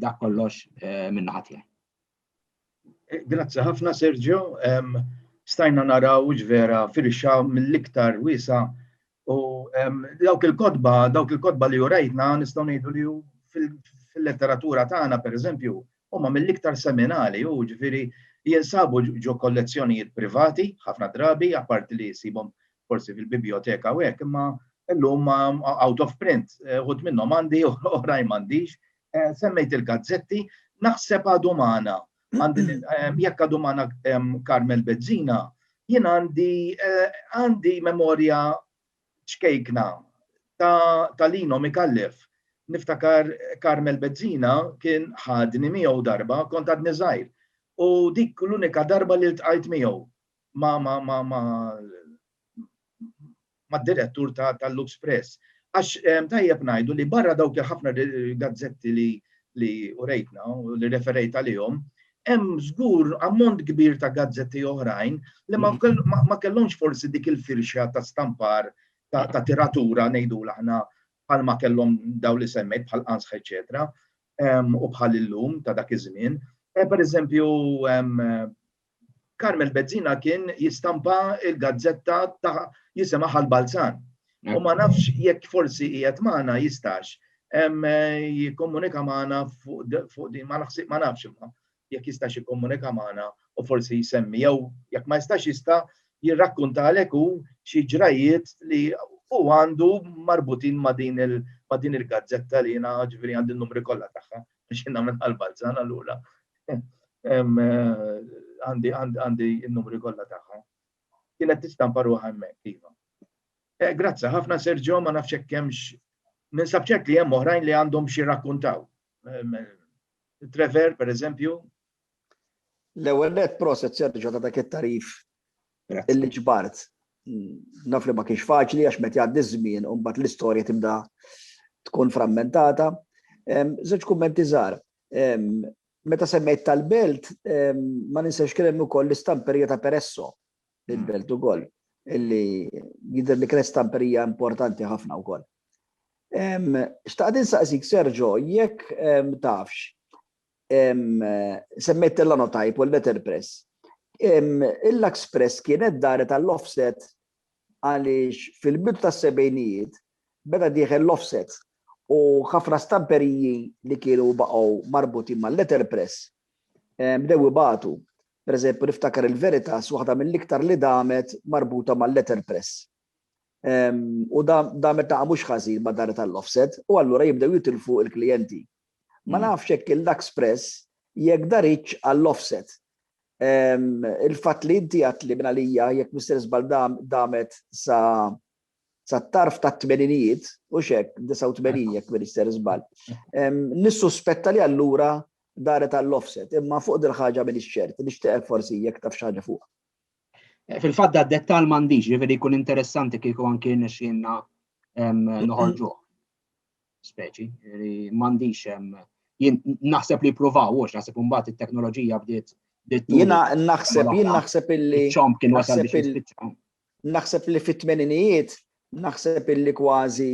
Dak kollox minn naħa tiegħi. Grazzi ħafna Sergio, stajna naraw ġvera firxa mill-iktar wisa u dawk il-kotba, dawk il-kotba li jurajtna nistgħu ngħidu li fil-letteratura tagħna pereżempju huma mill-iktar seminali u ġifieri jinsabu ġo kollezzjonijiet privati ħafna drabi apparti li jsibhom forsi fil-biblioteka u hekk imma illum out of print ħut minnhom għandi oħrajn m'għandix Semmejt il-gazzetti, naħseb għadu magħna. Jekk għadu magħna Carmel Bezzina, jien għandi għandi memorja ċkejkna ta' Lino Mikallef. Niftakar Carmel Bezzina kien ħadni miegħu darba kont għadni żgħir. U dik l-unika darba li ltqajt miegħu ma ma ma ma mad-direttur tal-Lux Press. Għax tajjeb ngħidu li barra dawk il-ħafna gazzetti li urejtna u li referejt għalihom, hemm żgur ammont kbir ta' gazzetti oħrajn li ma kellhomx forsi dik il-firxa ta' stampar ta' tiratura ngħidulha aħna bħal ma kellhom dawn li semmejt bħal Qanzħ eċċetera u bħal illum ta' dak iż-żmien. Pereżempju Carmel Bezzina kien jistampa il-gazzetta ta' jisimha Ħal-Balzan. U ma nafx jekk forsi qiegħed magħna jistax jikkomunika magħna fuq din ma naħsib ma nafx imma jekk jistax jikkomunika magħna u forsi jsemmi jew jekk ma jistax jista' jirrakkuntalek hu xi ġrajiet li u għandu marbutin ma' din il-gazzetta li jina ġviri għandi n-numri kollha tagħha biex jien nagħmel għal Balzan allura. Għandi għandi n-numri kollha tagħha. Kienet tistampa ruħha hemmhekk iva. Eh, grazzi ħafna Sergio, ma nafx hekk hemmx ninsab ċert li hemm oħrajn li għandhom xi rakkuntaw. Trevor, per eżempju, L-ewwel net proset Serġo ta' dak it-tarif illi ġbart. Naf li ma kienx faċli għax meta jgħaddi żmien u mbagħad l-istorja tibda tkun frammentata. Żewġ kummenti żgħar. Meta semmejt tal-belt, ma ninsex kien hemm ukoll l-istamperija ta' Peresso il-belt ukoll, illi jidher li kienet stamperija importanti ħafna wkoll. Xtaqt insaqsik Serġo, jekk tafx, semmejt Tellanotype u l-Letterpress. Il-Lux Press kienet daret għall-offset għaliex fil-bidu tas-sebgħinijiet beda dieħel l-offset u ħafna stamperiji li kienu baqgħu marbutin mal-Letterpress bdew ibatu. Per eżempju, niftakar il-Veritas waħda mill-iktar li damet marbuta mal-Letterpress. U damet ta' mhux ħażin ma' daret għall-offset u allura jibdew jitilfu l-klijenti. Ma nafx hekk il-Lux Press jekk daritx għall-offset. Il-fatt li inti għadt li minn għalija jekk Mister Żball damet sa sat-tarf tat-tmeninijiet, hux hekk, 89 jekk Mister Żball. Nissuspetta li allura daret għall-offset, imma fuq dil-ħaġa m'iniex ċert, nixtieqek forsi jekk taf xi ħaġa fuqha. Fil-fatt dad-dettall m'għandix, jiġifieri jkun interessanti kieku anki rnexxielna noħorġuh. speċi, li m'għandix jien naħseb li provaw hux naħseb imbagħad it-teknoloġija bdiet Jiena naħseb jien naħseb illi naħseb li fit-tmeninijiet naħseb illi kważi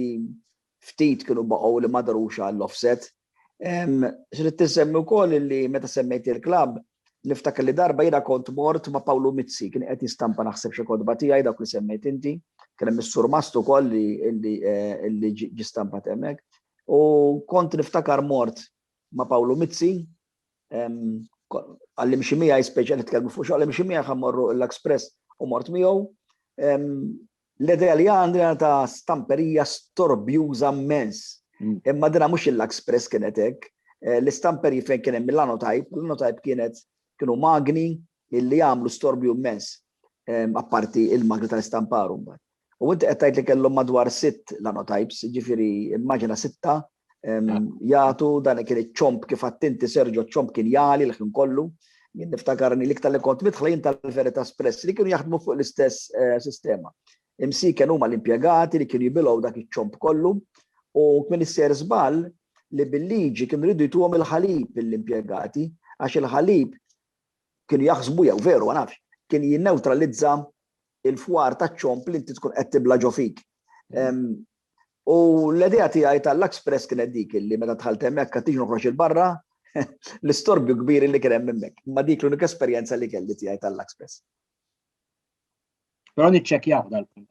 ftit kienu baqgħu li ma darux għall-offset. Xrid tisemmi wkoll li meta semmejt il-klabb, Niftakar li darba jiena kont mort ma' Pawlu Mizzi, kien qed jistampa naħseb xi kotba tiegħi dawk li semmejt inti, kien hemm is-surmast ukoll li ġie stampat hemmhekk. U kont niftakar mort ma' Pawlu Mizzi, għallim xi miegħi speċjal nitkellmu fuq xogħol, għallim xi miegħi ħammorru l-Express u mort miegħu. L-idea li għandi jiena ta' stamperija storbjuża mmens. Imma dinha mhux il-Luxpress kienet hekk. L-istamperji fejn kien hemm il-Lanotype, l-Lanotype kienet, kienu magni li jagħmlu storbju mmens, apparti il-magni tal-istampar imbagħad. U inti qed tgħid li kellhom madwar sitt Lanotypes, jiġifieri immaġina sitta jagħtu dan kien iċ-ċomp kif attinti Serġo ċomp kien jali l-ħin kollu. Jien niftakarni li iktar li kont nidħla jien tal-Verità Espress li kienu jaħdmu fuq l-istess eh, sistema. Imsiken huma l-impjegati li kienu jibilgħu dak iċ-ċomp kollu u kien isser żball li bil-liġi kienu ridu jtuhom il-ħalib l-impjegati għax il-ħalib kienu jaħsbu jew veru ma nafx kien jinneutralizza il-fwar taċ-ċomb li inti tkun qed tibla' ġo fik. U l-idea tiegħi tal-Luxpress kienet dik li meta dħalt hemmhekk għad tiġi noħroġ il barra l-istorbju kbir li kien hemm hemmhekk. Ma dik l-unika esperjenza li kelli tiegħi tal-Luxpress. Però niċċekkjaw dal-punt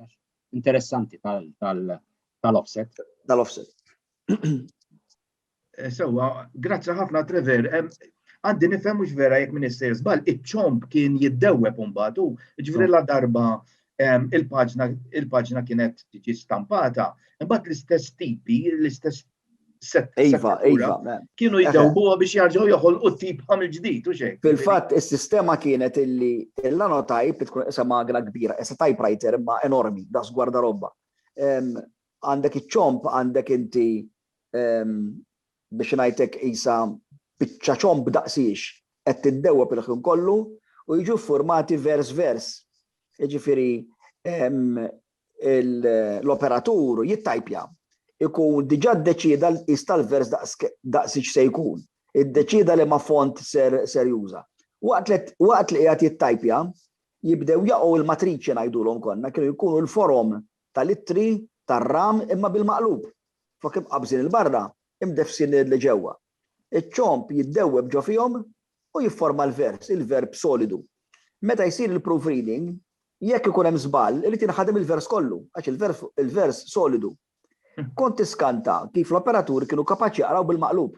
interessanti tal-offset. Tal-offset. Sewwa, grazzi ħafna Trevor. Għandi nifhem mhux vera jekk minn issejr żball, iċ-ċomb kien jiddewweb imbagħad u ġifieri la darba il-paġna il-paġna kienet tiġi stampata, imbagħad l-istess tipi, l-istess Iva, iva. Kienu jiddewbuha biex jarġgħu joħolqu tip ħamil ġdid u xejn. Fil-fatt is-sistema kienet illi l-anotajp tkun isha magna kbira, isha typewriter imma enormi, das gwarda robba. Għandek iċ-ċomb għandek inti biex ngħidlek qisha biċċa ċomb daqs hix qed tiddewweb il-ħin kollu u jiġu ffurmati vers vers. Jiġifieri l-operatur jittajpja, ikun diġà ddeċieda l-qies tal-vers daqs hix se jkun, iddeċieda liema font ser juża. Waqt li qiegħed jittajpja, jibdew jaqgħu l-matriċi ngħidulhom konna, kienu jkunu l-forom tal-ittri tar-ram imma bil-maqlub, flok imqabbżin 'il barra, imdeffsin 'l ġewwa. Iċ-ċomb jiddewweb ġo fihom u jifforma l-vers, il-verb solidu. Meta jsir il-proofreading, jekk ikun hemm żball, irid jinħadem il-vers kollu, għax il-verb il-vers solidu. Kont tiskanta kif l-operaturi kienu kapaċi jaqraw bil-maqlub,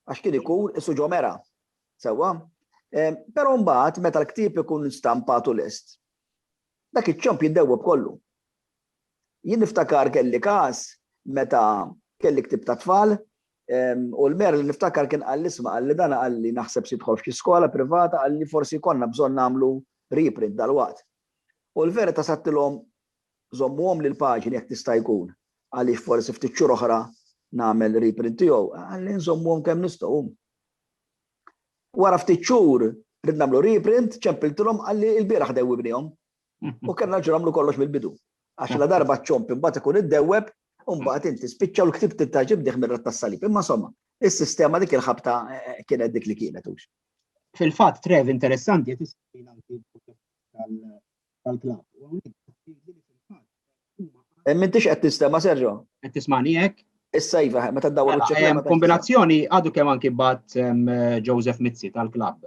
għax kien ikun isu ġo mera. Sewwa? Però mbagħad meta l-ktieb ikun stampat u lest, Dak iċ-ċomp jiddewweb kollu. Jien niftakar kelli każ meta kelli ktieb tat-tfal, u l-Mayor li niftakar kien qalli isma' qalli dan qalli naħseb se jidħol f'xi skola privata qalli forsi jkollna bżonn nagħmlu reprint dalwaqt. U l-verità sadtilhom żommuhom li l-paġni jekk tista' jkun għaliex forsi ftit xhur oħra nagħmel reprint tiegħu. Qalli nżommuhom kemm nistgħu. Wara ftit xhur rid nagħmlu reprint, ċempiltilhom qalli ilbieraħ dewwibnihom. U kellna nerġgħu nagħmlu kollox mill-bidu. Għax la darba ċ-ċomp imbagħad ikun iddewweb u mbagħad inti spiċċa u l-ktieb tibda ġib dih mir-ratt tas-salib. Imma somma, is-sistema dik il-ħabta kienet dik li kienet hux. Fil-fatt, Trev, interessanti qed issir anki tal-klabb. U hawnhekk qed tgħidli li fil-fatt huma għandhom. M'intix qed tinstema' Sergio? Qed tismani hekk? Issa iva, meta ddawwar mela, wiċċek. Kombinazzjoni għadu kemm anki bat Joseph Mizzi tal-klabb.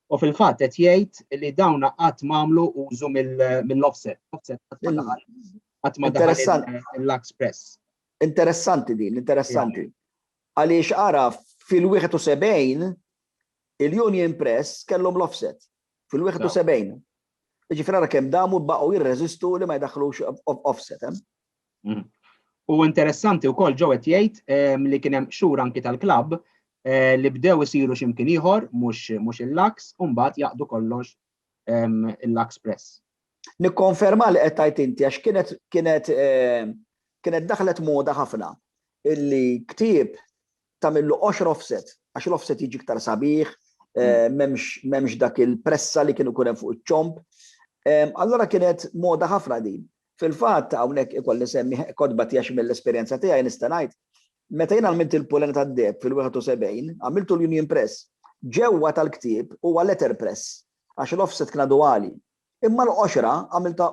U fil-fatt qed jgħid li dawn qatt m'għamlu użu mill-offset. Offset qatt ma daħal il-Lux Press. Interessanti din, interessanti. Għaliex għaraf fil-71 il-Union Press kellhom l-offset. Fil-71. Jiġifieri ara kemm damu baqgħu jirreżistu li ma jdaħħlux offset hemm. Mm. U interessanti wkoll ġew qed jgħid ehm, li kien hemm xhur anki tal-klabb eh, li bdew isiru x'imkien ieħor mhux il-Laks u mbagħad jaqdu kollox ehm, il-Laks Press. Nikkonferma li qed tgħid inti għax kienet kienet ehm, kienet daħlet moda ħafna illi ktieb tagħmillu qoxra offset, għax l-offset jiġi iktar sabiħ, eh, m'hemmx dak il-pressa li kienu kunem fuq iċ-ċomp. Ehm, allora kienet moda ħafna din. Fil-fatt hawnhekk ikolli semmi kodba tiegħi mill-esperjenza tiegħi nista' ngħid meta jien għamilt il-pulena tad-deb fil-71 għamiltu l-Union Press ġewwa tal-ktieb huwa letter press għax l-offset kien għali. Imma l-qoxra għamilta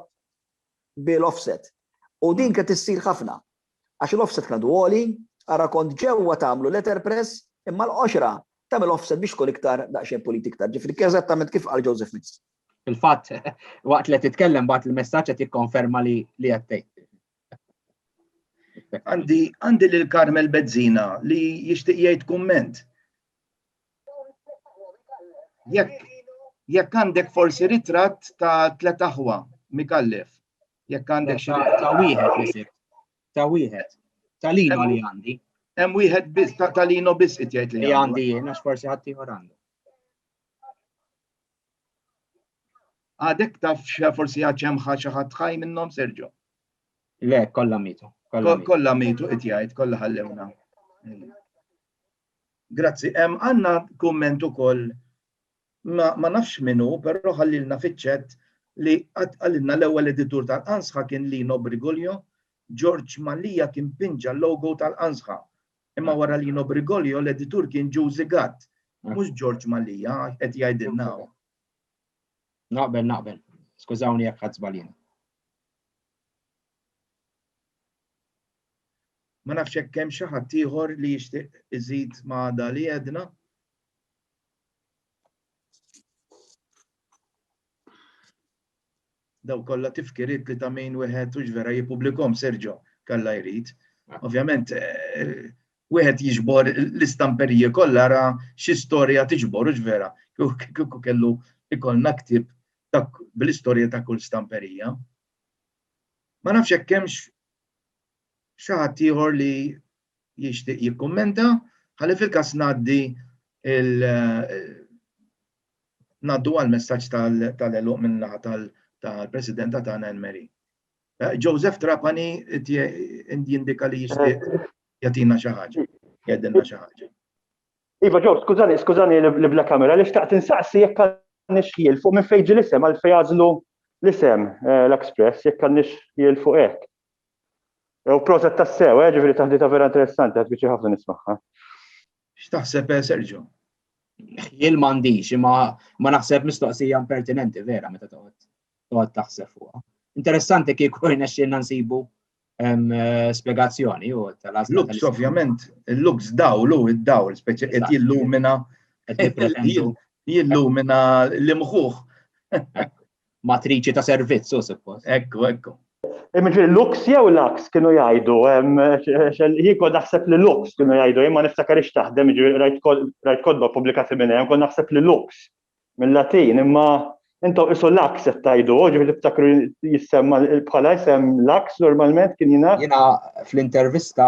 bil-offset. U din kien tissir ħafna. Għax il-offset kien għadu għoli, ara kont ġewwa tagħmlu letterpress imma l-qoxra tagħmel offset biex tkun iktar daqsxejn pulita iktar, ġifieri eżattament kif qal Joseph Mix. Fil-fatt, waqt li qed titkellem bagħat il-messaġġ qed jikkonferma li qed tgħid. Għandi lil Carmel Bezzina li jixtieq jgħid kumment. Jekk għandek forsi ritratt ta' tliet aħwa mikallef, Jekk għandek xi ta' wieħed li sibt. Ta' wieħed. Ta' lino li għandi. Hemm wieħed biss ta' lino biss qed jgħid li għandi jien għax forsi ħadd ieħor għandu. Għadek taf forsi għad hemm xi ħadd ħaj minnhom Serġo. Le, kollha mitu. Kollha mitu qed jgħid, kollha ħallewna. Grazzi, għandna kumment ukoll ma nafx min hu, però ħallilna fiċ-ċett li qatt qalilna l-ewwel editur tal-Qansħa kien Lino Brigulio, George Mallia kien pinġa l-logo tal-Qansħa. Imma wara Lino Brigulio l-editur kien Jużi Gatt, mhux George Mallia, qed jgħidilna hawn. Naqbel, naqbel. Skużawni jekk ħadd żbaljien. Ma nafx hekk hemm xi ħadd ieħor li jixtieq iżid ma' da li għedna. daw kollha tifkiriet li ta' min wieħed hux vera jippubblikom Sergio kalla jrid. Ah. Ovvjament eh, wieħed jiġbor l-istamperije kollha ra xi storja tiġbor hux vera. Kieku kellu ikollna ktib bl-istorja ta' kull stamperija. Ma nafx hekk hemmx xi ħadd ieħor li jixtieq jikkummenta, ħalli fil-każ ngħaddi ngħaddu għal messaġġ tal-eluq minn naħa tal-Presidenta tagħna Enmeri. Eh, Joseph Trapani jindika li jixtieq jagħtina xi ħaġa, jgħidilna xi ħaġa. Iva ġew, skużani, skużani li bla kamera, li xtaqt insaqsi jekk għandix ħiel fuq minn fejġi l-isem għal fejazlu l-isem eh, l-Express, jekk għandix ħiel fuq hekk. U proset tassew, eh, ġifiri taħdita vera interessanti, għad bieċi ħafna nismaħħa. X'taħseb eh, Sergio? Jien m'għandix, imma ma naħseb mistoqsija impertinenti vera meta toqgħod toqgħod taħseb fuqha. Interessanti kieku rnexxielna nsibu eh, spjegazzjoni u tal-għażla. Lux, ovvjament, il-lux dawlu, id-dawl, speċi qed jillumina jillumina l-imħuħ. matriċi ta' servizz, u suppost. Ekku, ekku. Imġi Lux jew Lux kienu jgħidu, jiko naħseb li Lux kienu jgħidu, imma niftakar ix taħdem, ġi rajt kodba publikati minn hemm, kon naħseb li Lux minn Latin, imma intom isu Lux qed tajdu, ġi niftakru jissemma bħala jisem Lux normalment kien jina. Jina fl-intervista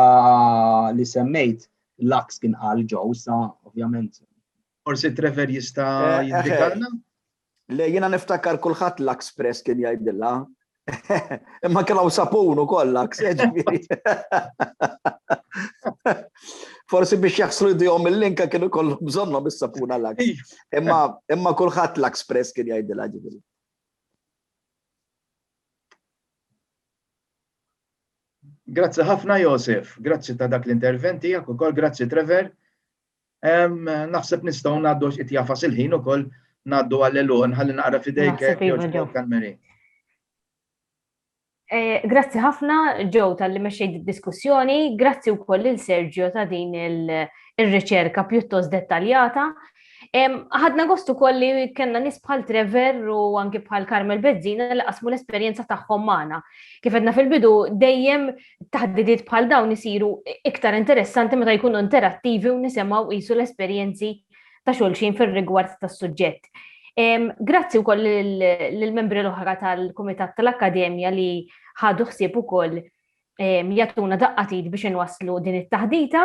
li semmejt Lux kien għal ġew, sa ovvjament. Forsi Trevor jista' eh, eh, eh. jindikalna? Le jiena niftakar kulħadd Lux Press kien jgħidilha. Imma kien hawn sapun ukoll Lux, jiġifieri. Forsi biex jaħslu jdihom il-linka kienu kollu bżonnhom is-sapuna Lux. Imma imma kulħadd Lux Press kien jgħidilha ġifieri. Grazzi ħafna Josef, grazzi ta' dak l-interventi, ukoll grazzi Trevor Naħseb nistgħu ngħaddu għax qed jafas il-ħin ukoll ngħaddu għall-eluħ ħalli naqra fidejk Mary. Eh, grazzi ħafna ġew tal-li meċċejt diskussjoni, grazzi u koll il-Sergio ta' din il-riċerka pjuttost dettaljata. Ħadna gostu koll li kena nis bħal Trevor u anki bħal Carmel Bezzina li qasmu l-esperienza tagħhom magħna. Kif għedna fil-bidu dejjem taħdidiet bħal dawn isiru iktar interessanti meta jkunu interattivi u nisimgħu qisu l-esperjenzi ta' xulxin fir-rigward tas-suġġett. Grazzi wkoll lill-membri l-oħra tal-Kumitat tal-Akkademja li ħadu ħsieb ukoll jagħtuna daqqatit biex inwasslu din it-taħdita.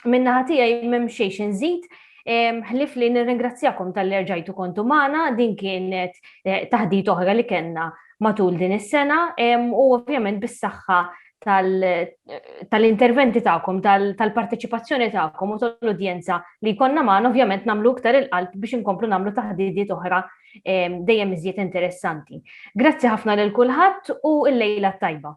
Minna ħatijaj mem xejx nżid, ħlif li nirringrazzjakom tal-li rġajtu kontu maħna, din kienet eh, taħdit oħra li kena matul din is-sena u ovvjament bis-saħħa tal-interventi ta'kom, tal-parteċipazzjoni ta'kom u tal-udjenza li konna maħna ovvjament namlu iktar il-qalb biex inkomplu namlu taħdidiet oħra dejjem iżjed interessanti. Grazzi ħafna lil kulħadd u l-lejla tajba.